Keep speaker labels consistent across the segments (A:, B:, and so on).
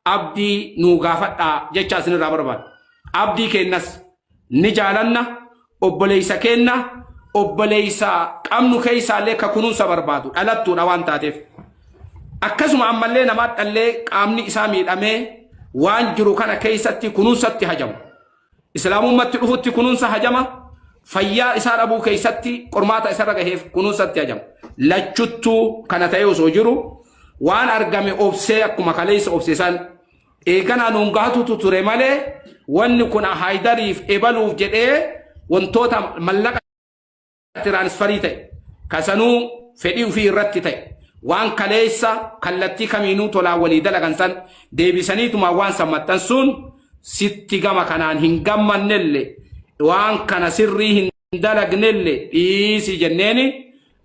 A: abdii nuu gaafadhaa jechaa isinirraa barbaada. Abdii keennas ni jaalanna obboleessa keenna obboleessa qabnu keessaallee ka kunuunsa barbaadu dhalattuudha waan taateef. Akkasuma ammallee namaa dhallee qaamni isaa miidhamee waan jiru kana keessatti kunuunsatti hajamu. Islaamummatti dhufutti kunuunsa hajama, fayyaa isaa dhabuu keessatti qormaata isarra gaheef kunuunsatti hajama. Lachuttuu kana ta'ee osoo jiru waan argame obsee akkuma kaleessa obse san eeganaa nuun gahatutu ture malee wanni kun haydariif ebaluuf jedhee wantoota mallaqa tiraansfarii ta'e ka sanuu fedhii ufii irratti ta'e waan kaleessa kallattii kamiinuu tolaan walii dalagan san deebisaniitumaa waan san maxxansuun sitti gama kanaan hin gammannelle waan kana sirrii hin dalagnelle dhiisi jenneeni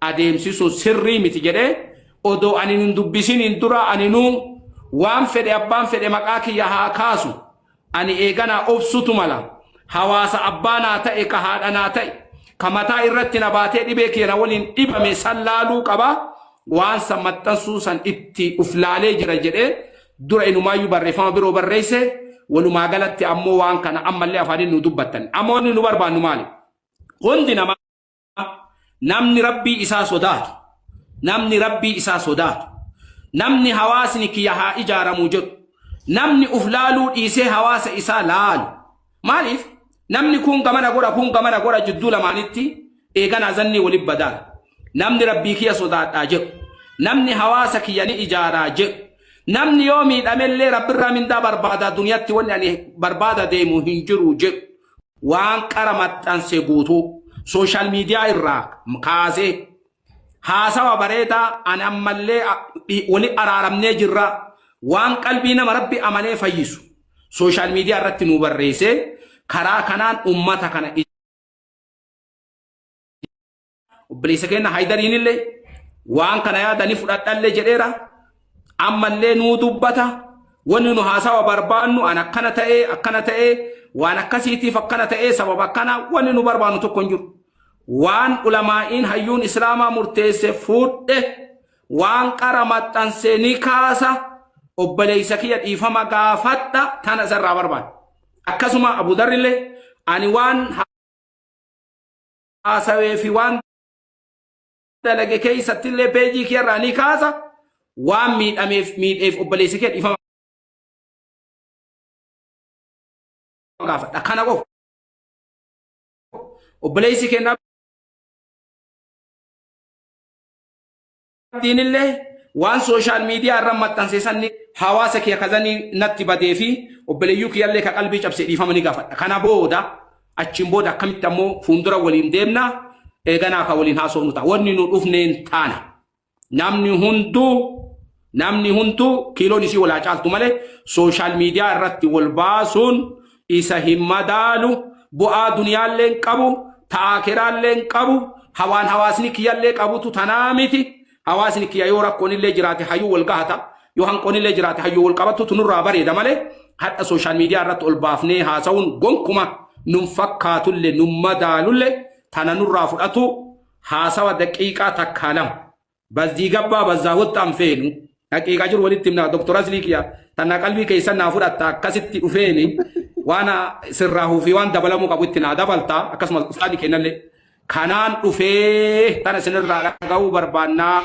A: adeemsisuun sirrii miti jedhee odoo ani hin dubbisiniin dura aninuu waan fedhe abbaan fedhe maqaa kiyya haa kaasu Ani eeganaa obsuutu mala. Hawaasa abbaa naa ta'e, ka haadha naa ta'e, ka mataa irratti na baatee dhibee kiyya na waliin dhibame san laaluu qaba, waan san maxxansuu san itti uf laalee jira jedhee dura inumaayyuu barreeffama biroo barreesse, walumaa galatti ammoo waan kana ammallee afaaniin nuu dubbattan. Amma wanni nu barbaannu maali? Hundi namaa. namni rabbii isaa sodaatu namni rabbii isaa sodaatu namni hawaasni kiyya haa ijaaramu jedhu namni uf laaluu dhiisee hawaasa isaa laalu maaliif namni kun gamana godha kun gamana godha jidduu lamaanitti eeganaa zannii wali badaan namni rabbii kiyya sodaadhaa jedhu namni hawaasa kiyya ni ijaaraa jedhu namni yoo miidhamellee rabbirraa mindaa barbaadaa duniyaatti wanni ani barbaada deemu hin jiru jedhu Waan qara maxxanse guutuu social media irraa kaasee haasawa bareedaa ani ammallee wali araaramnee jirra waan qalbii nama rabbi amanee fayyisu social media irratti nuu barreessee karaa kanaan ummata kana Obboleessa keenya Haydariin illee waan kana yaadanii fudhadhallee jedheera. Ammallee nuu dubbata. Wanni nu haasawa barbaannu an akkana ta'ee akkana ta'ee waan akkasiitiif akkana ta'ee sababa akkana wanni nu barbaannu tokko hin jiru. Waan ulamaa'iin hayyuun islaamaa murteesse fuudhe waan qara maxxansee ni kaasa obboleessa kiyya dhiifama gaafadha tana isarraa barbaada. Akkasuma Abu Darrillee ani waan haasawee fi waan dalage keessatti illee peejii kee irraa ni kaasa waan miidhameef miidheef obboleessi kee dhiifama gaafadha kana qofa obboleessi kennaa Dubartiinillee waan sooshaal miidiyaa irra maxxanse san hawaasa kiyya kazanii natti badee fi obboleeyyuu kiyyallee ka qalbii cabse dhiifama ni gaafadha. Kana booda achiin booda akkamitti ammoo fuuldura waliin deemna eeganaa ka waliin haasofnu ta'a. Wanni nu dhufneen taana. Namni hunduu namni hunduu kiiloon isii walaa caaltu malee sooshaal miidiyaa irratti wal baasuun isa hin madaalu bu'aa duniyaallee hin qabu ta aakeraallee hin qabu hawaan hawaasni kiyyallee qabutu tanaa miti hawaasni kiyya yoo rakkoonillee jiraate hayyuu wal gahata yoo hanqoonillee jiraate hayyuu wal qabattu tunurraa bareeda malee hadha sooshaal miidiyaa irratti ol baafnee haasa'uun gonkuma nun fakkaatulle nun madaalulle tana nurraa fudhatu haasawa daqiiqaa takkaa lama bazzii gabbaa bazzaa hottaan feenu haqiiqa jiru walitti himna doktor aslii kiya tanna qalbii keessan naa fudhatta akkasitti dhufeeni waan sirraa huufii waan dabalamuu qabu itti naa dabalta akkasumas ustaadi kennallee kanaan dhufee tana sinirraa dhaga'uu barbaannaa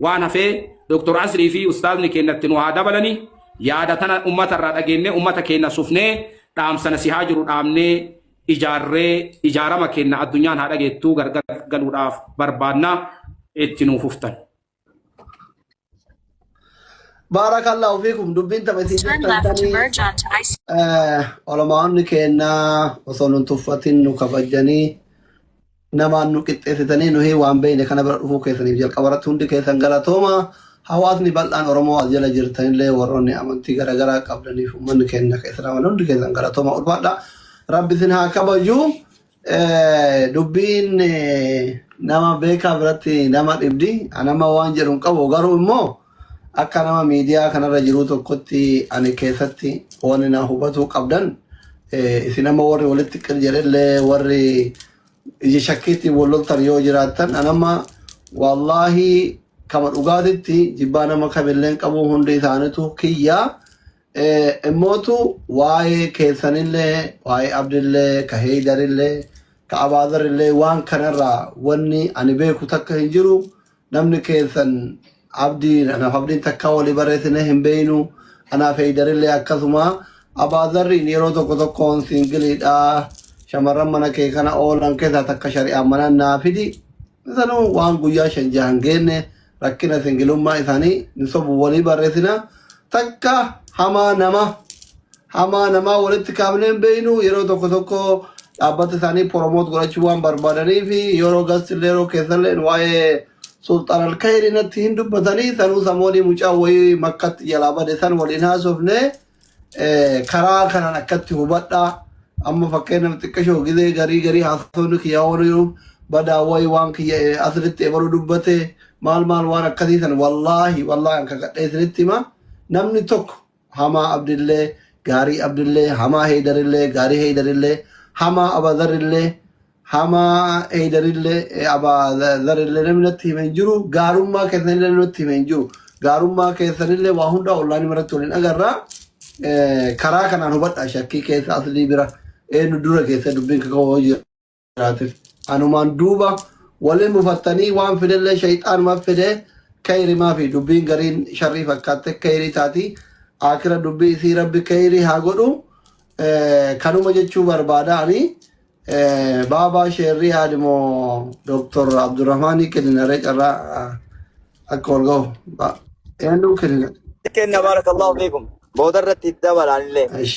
A: waan hafee doktor aslii fi ustaadni kennatti nu haa dabalanii yaada tana ummata irraa dhageennee ummata keenna sufnee dhaamsana si haa jiru dhaamnee ijaarree ijaarama keenna addunyaan haa dhageettuu gargar galuudhaaf barbaadna itti nuu fuftan.
B: Baarakallahu fiikum dubbiin tapha isin Turn jettan left to tanii merge onto ice. olamaa'onni keennaa osoo nun tuffatin nu kabajanii namaan nu qixxeessitanii nuhii waan beeyne kana bira dhufuu keessaniif jalqabarratti hundi keessan galatooma. Hawaasni bal'aan Oromoo as jala jirtanillee warroonni amantii garagaraa qabdaniif ummanni keenya ka Islaamaa hundi keessan galatooma ulfaadha. Rabbi isin haa kabaju. Eh, Dubbiin eh, nama beekaa biratti nama dhibdi. Anama waan jedhu hin qabu garuu immoo Akka nama miidiyaa kanarra jiruu tokkotti ani keessatti wanni na hubatuu qabdan eh, isin amma warri walitti qir jedhellee warri ija shakkiitti wal loltan yoo jiraattan an amma wallaahi kama dhugaatitti jibbaa nama kamillee hin qabu hundi isaanitu kiyyaa Eh, immootu waa'ee keessanillee waa'ee abdillee ka heeydarillee ka abaazarillee waan kanarraa wanni ani beeku takka hin jiru Namni keessan Abdiin anaaf Abdiin takkaa walii barreessinee hin beeynu anaaf Heeydarillee akkasuma Abaazarriin yeroo tokko tokkoon siingiliidha shamarran mana kee kana oolan keessaa takka shari'aan mana naa fidi sanuu waan guyyaa shan jahan geenne rakkina singilummaa isaanii hin sobu walii barreessina takka hamaa nama hamaa namaa walitti kaafnee hin beeknu yeroo tokko tokko dhaabbata isaanii promote godhachuu waan barbaadanii fi yeroo gastillee yeroo keessallee waa'ee sulxaan alkayri natti hin dubbatanii sanuu samoonii mucaa wayii makkatti jalaa bade san waliin haasofne eh, karaa kanaan akkatti hubadha amma fakkeenyaaf xiqqashoo gizee garii garii haasofni kiyyaa oolu badaa wayii waan kiyya eh, asirratti ebaluu dubbate maal maal waan akkasii san wallaahi wallaahi an kakadhee isinitti hima namni tokko hamaa abdillee gaarii abdillee hamaa heeydarillee gaarii heeydarillee hamaa abazarrillee hamaa heeydarillee abazarrillee namni natti hime hin jiru gaarummaa keessanillee namni natti hime hin jiru gaarummaa keessanillee waa hundaa ollaanii maratti waliin agarraa karaa kanaan hubadha shakkii keessa aslii bira eenyu dura keessa dubbiin kaka'oo jira. jiraatiif. Anumaan duuba wali mufattanii waan fidellee shayxaanuma fide kayrimaa fi dubbiin gariin sharrii fakkaatte kayrii taati. Aakira dubbii isii rabbi kayrii haa godhu. Eh, Kanuma jechuu barbaada ani eh, baabaa sheerrii aadimo Dr. Abdurrahmaanii kenninaree carraa ah, akka wal ga'u. Ba- Eenyuu kennina? kenna baarakallahu
C: fiikum booda irratti dabalaan illee Ish.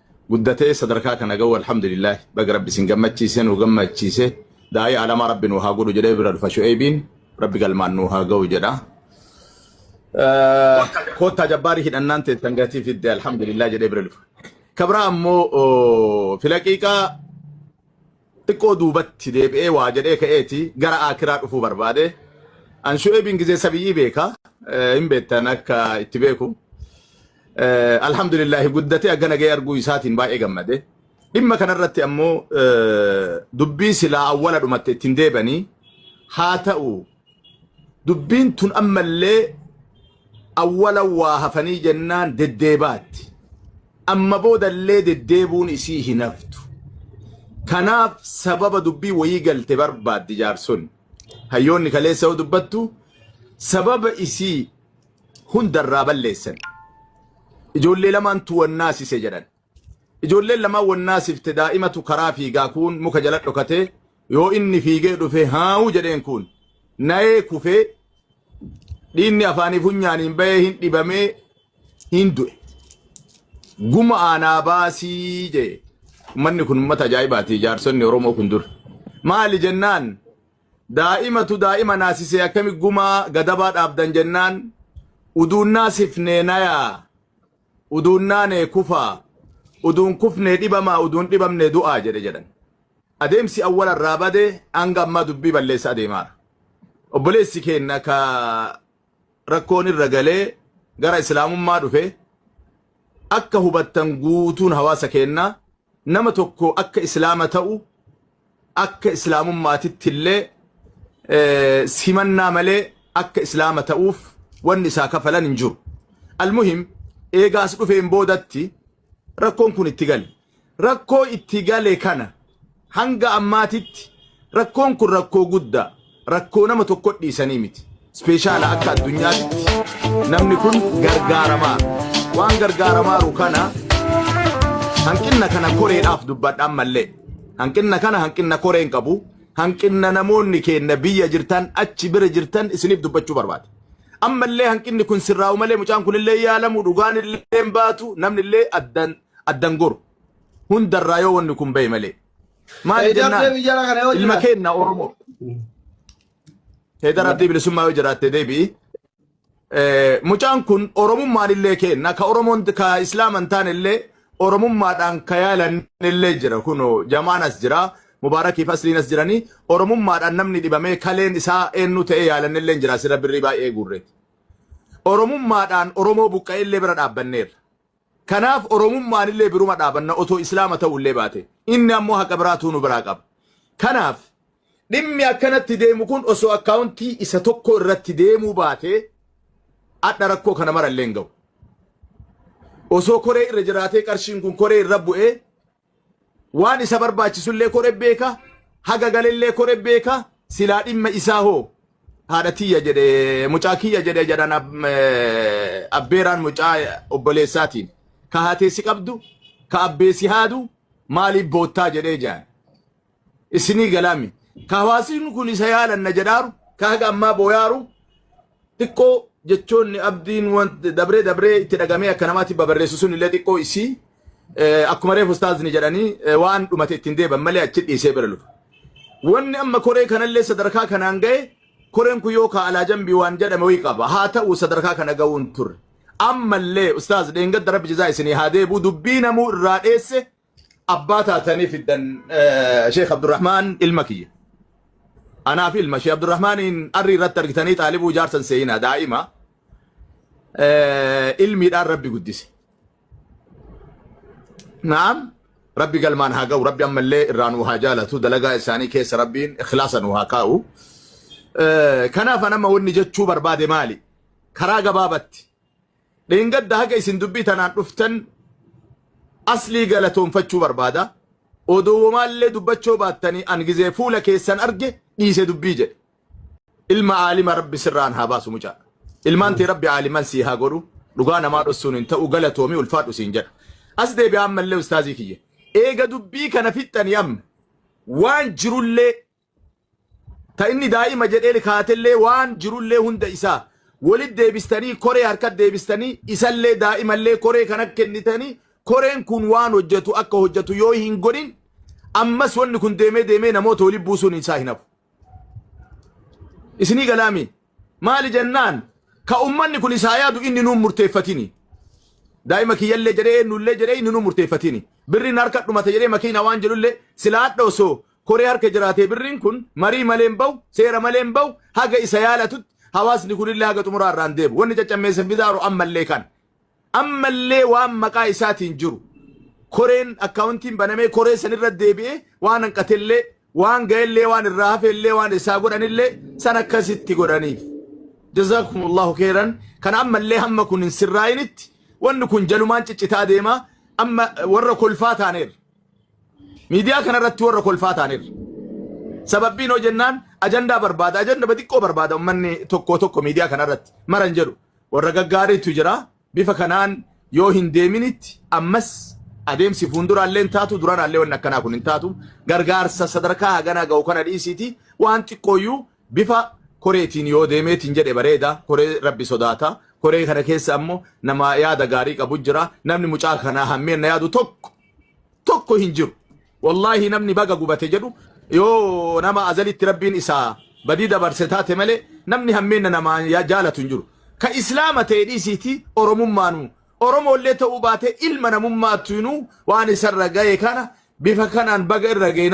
D: guddatee sadarkaa kana ga'uu alhamdulillah baga rabbi isin gammachiise nu gammachiise daa'ii alamaa rabbi nu haa godhu jedhee bira dhufa shu'eebiin rabbi galmaan nu haa ga'u jedha. Eh, Koottaa jabbaarii hidhannaan teessan gatii fidde alhamdulillah jedhee bira dhufa. Kabraa ammoo oh, filaqiiqaa Xiqqoo duubatti deebi'ee waa jedhee ka'eeti gara Aakiraa dhufuu barbaade. An Shu'eebiin gizee sabiyyii beeka. Hin beektan akka itti beeku. Alhamdulillaahi guddatee akka nagee arguu isaatiin baay'ee gammade. Dhimma kanarratti ammoo dubbii silaa awwala dhumatte ittiin deebanii haa ta'u dubbiin tun ammallee awwala waa hafanii jennaan deddeebaatti amma boodallee deddeebuun isii hin haftu kanaaf sababa dubbii wayii galte barbaaddi jaarson hayyoonni kaleessa yoo dubbattu sababa isii hundarraa balleessan ijoollee lamaan tuwannaasise jedhan Ijoolleen lamaan wal naasifte daa'imatu karaa fiigaa kuun muka jala dhokatee yoo inni fiigee dhufe haawuu jedheen kuun nayee kufee dhiinni afaanii funyaaniin bahee hin dhibamee hin du'e. Guma aanaa baasii jee ummanni kun ummata ajaa'ibaati jaarsonni Oromoo kun dur. Maali jennaan daa'imatu daa'ima naasisee akkami gumaa gadabaa dhaabdan jennaan uduun naasifnee nayaa Uduun naane kufaa, uduun kufne dhibamaa, uduun dhibamne du'aa jedhe jedhan. Adeemsi awwala irraa bade hanga ammaa dubbii balleessa adeemaara. Obboleessi keenna ka rakkoon irra galee gara Islaamummaa dhufe akka hubattan guutuun hawaasa keennaa Nama tokko akka Islaama ta'u akka Islaamummaatitti illee simannaa malee akka Islaama ta'uuf wanni isaa kafalan hin jiru. Almuhim eega as dhufeen boodatti rakkoon kun itti gale. Rakkoo itti gale kana hanga ammaatitti rakkoon kun rakkoo guddaa. rakkoo nama tokko dhiisanii miti. Ispeeshaala akka addunyaatti namni kun gargaaramaa waan gargaaramaaru kana hanqinna kana koreedhaaf dubbadha ammallee. Hanqinna kana hanqinna koreen qabu hanqinna namoonni keenya biyya jirtan achi bira jirtan isiniif dubbachuu barbaada. Ammallee hanqinni kun sirraa'u malee mucaan kunillee yaalamu dhugaan illee baatu namni illee addan goru hundarraa yoo wanni kun bahe malee. Maali Heydar jennaan deebi jara kana yoo ilma jiraate. keenna Oromoo. Heydar Abdii Bilisummaa yoo jiraatte deebi'i. Eh, Mucaan kun Oromummaan illee keenna ka Oromoon ka Islaaman taane illee Oromummaadhaan ka yaalan illee jira kunoo jamaan as jira Mubaarakiif asliin as jiranii Oromummaadhaan namni dhibamee kaleen isaa eenyu ta'ee yaalan illee jira sirra birrii baay'ee guurreeti. Oromummaadhaan Oromoo buqqa'ee illee bira dhaabbanneerra. Kanaaf Oromummaan illee biruma dhaabanna otoo Islaama ta'uu illee baate. Inni ammoo haqa biraatuu nu biraa qaba. Kanaaf dhimmi akkanatti deemu kun osoo akkaawuntii isa tokko irratti deemuu baatee adha rakkoo kana mara illee hin ga'u. Osoo koree irra jiraatee qarshiin kun koree irra bu'ee Waan isa barbaachisullee kore beeka, haga galellee kore beeka, silaa dhimma isaa hoo? Haadha tiyya jedhe, mucaa kiyya jedhe jedhan abbeeraan mucaa obboleessaatiin. Ka haatee si qabdu, ka abbee si haadu maaliif boottaa jedhee jedhan. isinii galaami. Ka hawaasni kun isa yaalanna jedhaaru, ka haga ammaa booyaaru, xiqqoo jechoonni abdiin wanti dabree dabree itti dhagamee akka namaatti babarreessu sun illee xiqqoo isii eh, akkuma reefu ustaazni jedhanii eh, waan dhumate ittiin deeban malee achi dhiisee bira lufa. Wanni amma koree kanallee sadarkaa kanaan ga'e koreen kun yoo kaalaa jambii waan jedhame wayii qaba. Haa ta'u sadarkaa kana ga'uun turre. Ammallee ustaaz dheengadda rabbi jazaa isinii haa deebi'u dubbii namuu irraa dheesse abbaa taatanii fiddan eh, Sheekh Abdurrahmaan ilma kiyya. Anaa fi ilma Sheekh Abdurrahmaaniin arri irratti argitanii xaalibuu jaarsan seenaa daa'ima eh, ilmiidhaan rabbi guddise. Naam rabbi galmaan haa ga'u rabbi ammallee irraa nu haa jaalatu dalagaa isaanii keessa rabbiin ikhlaasa nu haa kaa'u. Eh, Kanaaf anama wanni jechuu barbaade maali? Karaa gabaabatti Dheengadda haga isin dubbii tanaan dhuftan aslii galatoonfachuu barbaada. Odoo womaallee dubbachoo baattanii an gizee fuula keessan arge dhiise dubbii jedhe. Ilma aalima rabbi sirraan haa baasu mucaa. Ilmaan tee rabbi aaliman sii haa godhu. Dhugaa namaa dhossuun hin ta'u galatoomi ulfaadhu siin jedha. As deebi'aa ammallee ustaazii kiyya. Eega dubbii kana fixxanii amma waan jirullee Ta inni daa'ima jedhee lkaatellee waan jirullee hunda isaa wolit deebistanii koree harkat deebistanii isallee daa'imallee koree kanat kennitanii koreen kun waan hojjatu akka hojjatu yoo hin godhin ammas wanni kun deemee deemee namoota wolit buusuun isaa hin hafu. Isinii galaa mii? Maali jennaan ka ummanni kun isaa yaadu inni nuun murteeffatini. Daa'ima kiyyallee jedhee eenyullee jedhee inni nuun murteeffatini. Birriin harka dhumate jedhee makiina waan jedhullee silaa hadha osoo koree harka jiraatee birriin kun marii malee hin bahu, seera malee hin bahu, haga isa yaalatutti hawaasni kunillee haga xumuraa irraa hin deebi'u. Wanni caccammeessa fidaaru ammallee kana. Ammallee waan maqaa isaatiin jiru koreen akkaawuntiin banamee koree san irra deebi'ee waan hanqatellee waan ga'ellee waan irraa hafeellee waan isaa godhanillee san akkasitti godhaniif. Jazaakumullaahu keeran kan ammallee hamma kun hin sirraa'initti wanni kun jalumaan ciccitaa deema amma warra kolfaa taaneerra. Miidiyaa kanarratti warra kolfaa taaneerra. Sababbiin hoo jennaan ajandaa barbaada ajanda xiqqoo barbaada ummanni tokko tokko miidiyaa kanarratti maran jedhu. Warra gaggaariitu jira. Bifa kanaan yoo hin deeminitti ammas adeemsi fuunduraallee hin taatu, duranaallee wanni akkanaa kun hin taatu. Gargaarsa sadarkaa haganaa gahu kana dhiisiitii waan xiqqooyyuu bifa koreetiin yoo deemeetiin jedhe bareeda. Koree Rabbi sodaata. Koree kana keessa ammoo nama yaada gaarii qabu jira. Namni mucaa kanaa hammeenna yaadu tokko tokko hin jiru. Wallahi namni baga gubate jedhu yoo nama azalitti rabbiin isaa badii dabarse taate malee namni hammeenna namaa yaa jaalatu hin jiru. Ka islaama ta'e dhiisiiti oromummaanu oromoollee ta'uu baate ilma namummaattuinuu waan isarra ga'e kana bifa kanaan baga irra ga'e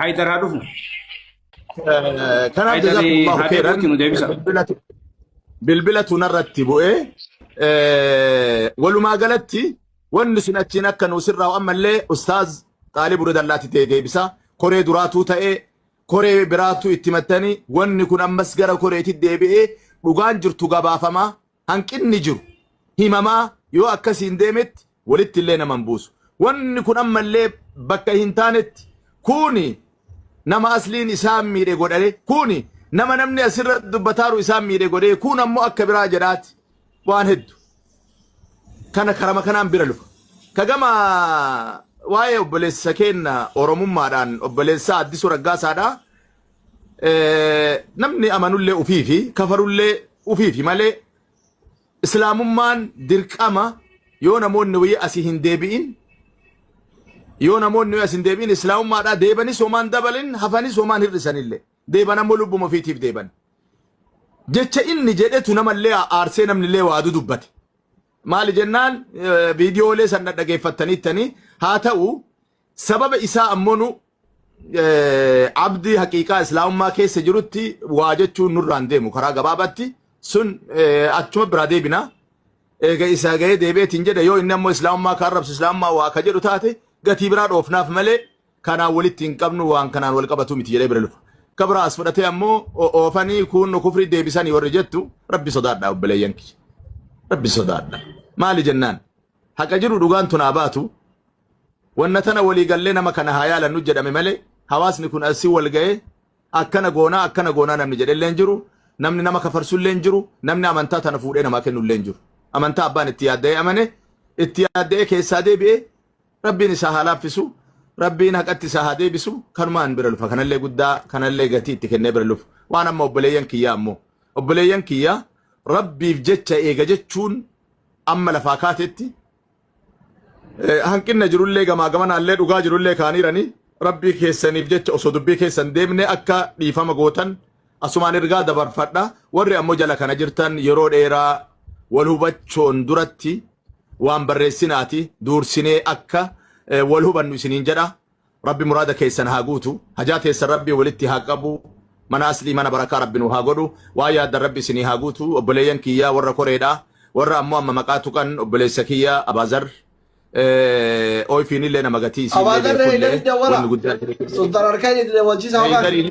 A: Haydar haa dhufu.
D: Kanaaf jazakumullahu khairan bilbila tunarratti bu'ee walumaa galatti wanni sun achiin akka nu sirraa ammallee ustaaz xaalib radallaatti ta'e deebisa koree duraatuu ta'e koree biraatu itti mattanii wanni kun ammas gara koreetti deebi'ee dhugaan jirtu gabaafamaa hanqinni jiru himamaa yoo akkasiin deemetti walitti illee nama hin buusu. Wanni kun amma illee bakka hin taanetti kuuni nama asliin isaan miidhe godhare kuuni nama namni asirra dubbataaru isaan miidhe godhee kuun ammoo akka biraa jedhaati waan heddu. Kana karama kanaan bira lufa. Kagama waa'ee obboleessa keenna Oromummaadhaan obboleessaa Addisuu Raggaasaadhaa namni amanullee ufii fi kafarullee ufii fi malee islaamummaan dirqama yoo namoonni wayii asii hin deebi'in yoo namoonni as hin deebi'in islaamummaadhaa deebanis homaan dabalin hafanis homaan hir'isanillee deeban ammoo lubbuma ofiitiif deeban. Jecha inni jedhetu namallee aarsee namnillee waa dudubbate. Maali jennaan viidiyoolee san dhaggeeffattaniittanii haa ta'u Sababa isaa ammoo nu abdii haqiiqaa islaamummaa keessa jirutti waa jechuun nurraan deemu karaa gabaabaatti sun achuma biraa deebina. Eega isaa gahee deebi'eetiin jedha yoo inni ammoo islaamummaa ka arrabsu islaamummaa waa ka jedhu taate gatii biraa dhoofnaaf malee kanaan walitti hin qabnu waan kanaan wal qabatu miti jedhee bira lufa. Ka biraa as fudhatee ammoo oofanii kuunnu kufrii deebisanii warri jettu rabbi sodaadha obboleeyyan kiyya. Rabbi sodaadha. Maali jennaan? Haqa jiru dhugaan tunaa baatu Wanna tana walii gallee nama kana haa yaalannu jedhame malee hawaasni kun assi wal ga'ee akkana goonaa akkana goonaa namni jedhellee hin jiru, namni nama kafarsullee hin jiru, namni amantaa tana fuudhee namaa kennullee hin jiru. Amantaa abbaan itti yaadda'ee amane, itti yaadda'ee keessaa deebi'ee Rabbiin isaa haa laaffisu, Rabbiin haqatti isaa haa deebisu, kanumaan bira lufa. Kanallee guddaa, kanallee gatii itti kennee bira lufu. Waan amma obboleeyyan kiyyaa ammoo. Obboleeyyan kiyyaa Rabbiif jecha eega jechuun amma lafaa kaatetti hanqinna jirullee gamaa gamanaallee dhugaa jirullee kaaniiranii rabbii keessaniif jecha osoo dubbii keessan deemne akka dhiifama gootan asumaan ergaa dabarfadha warri ammoo jala kana jirtan yeroo dheeraa wal hubachuun duratti waan barreessinaati duursinee akka wal hubannu isiniin jedha Rabbi muraada keessan haa guutu. Hajaa teessan Rabbi walitti haa qabu. Mana aslii mana barakaa Rabbi nu haa godhu. Waa yaaddan Rabbi isinii haa guutu. Obboleeyyan kiyyaa warra koreedha. Warra ammoo amma maqaa tuqan obboleessa kiyya Abaazar. Eh, Oyfiinillee nama gatii isiillee Abaazarree beekullee Hidari Dawwala. wanni guddaan Sultan Arkain Idile Wajjisa Hogan. Heydariin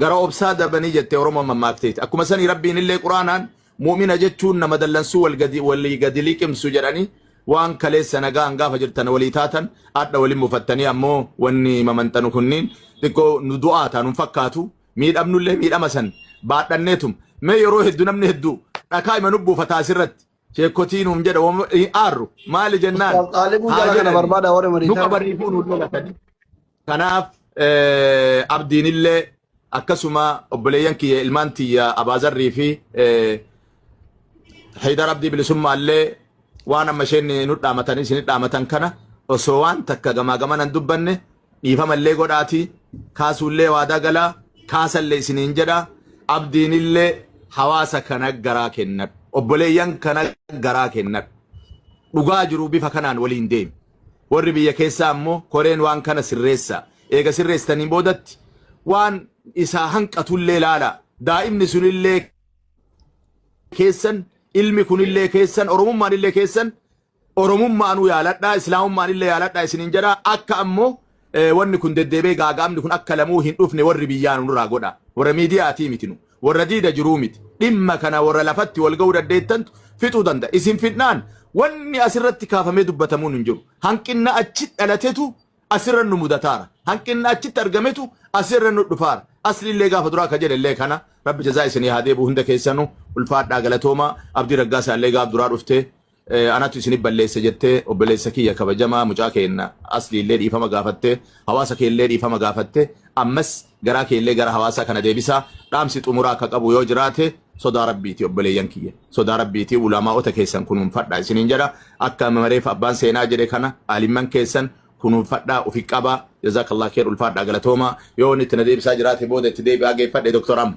D: Gara obsaa darbanii jettee Oromoon mammaakteeti. Akkuma sanii Rabbiin illee Quraanaan mu'mina jechuun nama dallansuu wal gadi walii gadi liqimsu jedhanii waan kaleessa nagaan gaafa jirtan walii taatan adha walin mufattanii ammoo wanni mamanxanu kunniin xiqqoo nu du'aa taa nun fakkaatu miidhamnu illee miidhama san baadhanneetum mee yeroo heddu namni heddu dhakaa ima nu buufata asirratti sheekkotii nuun jedha wama- hin aarru maali jennaan Ustaaz Xaalibuu haa jala kana jedhanii barbaada warri nu mariisaa. qabaniifuu nu lolatanii Kanaaf abdiinillee akkasuma obboleeyyan kiyya ilmaan tiyya abaazarrii fi haydar abdii bilisummaallee waan amma isheen nu dhaamatan isin dhaamatan kana osoo waan takka gamaa gaman hin dubbanne dhiifamallee godhaati kaasuullee waadaa galaa kaasallee isiniin jedha abdiinillee hawaasa kana garaa kennadhu obboleeyyan kana garaa kennadhu dhugaa jiru bifa kanaan waliin deemi. Warri biyya keessaa ammoo koreen waan kana sirreessaa. Eega sirreessitaniin boodatti waan isaa hanqatullee laalaa. Daa'imni sunillee keessan, ilmi kunillee keessan, Oromummaanillee keessan, Oromummaanuu yaaladhaa, Islaamummaanillee yaaladhaa isiniin jedhaa. Akka ammoo wanni kun deddeebee gaaga'amni kun akka lamuu hin dhufne warri biyyaa nu nurraa godha warra miidiyaatii miti nu warra diida jiruu miti dhimma kana warra lafatti wal ga'uu dandeettantu fixuu danda'a isin fidnaan wanni asirratti kaafamee dubbatamuun hin jiru hanqinna achi dhalatetu asirra nu mudataara hanqinna achitti argametu asirra nu dhufaara asliillee gaafa duraa ka jedhellee kana rabbi jazaa isinii haa deebi'u hunda keessanu ulfaadhaa galatoomaa abdii raggaasaa illee gaaf duraa dhuftee Eh, anatu isinif balleesse jettee obboleessa kiyya kabajamaa mucaa keenna aslii illee dhiifama gaafatte hawaasa kee illee dhiifama gaafatte ammas garaa kee illee gara hawaasaa kana deebisaa dhaamsi xumuraa akka qabu yoo jiraate sodaa rabbiiti obboleeyyan kiyya sodaa rabbiiti ulamaa'ota keessan kunuunfadhaa isiniin jedha akka mareef abbaan seenaa jedhe kana aalimman keessan kunuunfadhaa ufi qabaa jazaakallah keer ulfaadhaa galatoomaa yoo inni itti na deebisaa jiraate booda itti deebi'aa geeffadhe doktor amma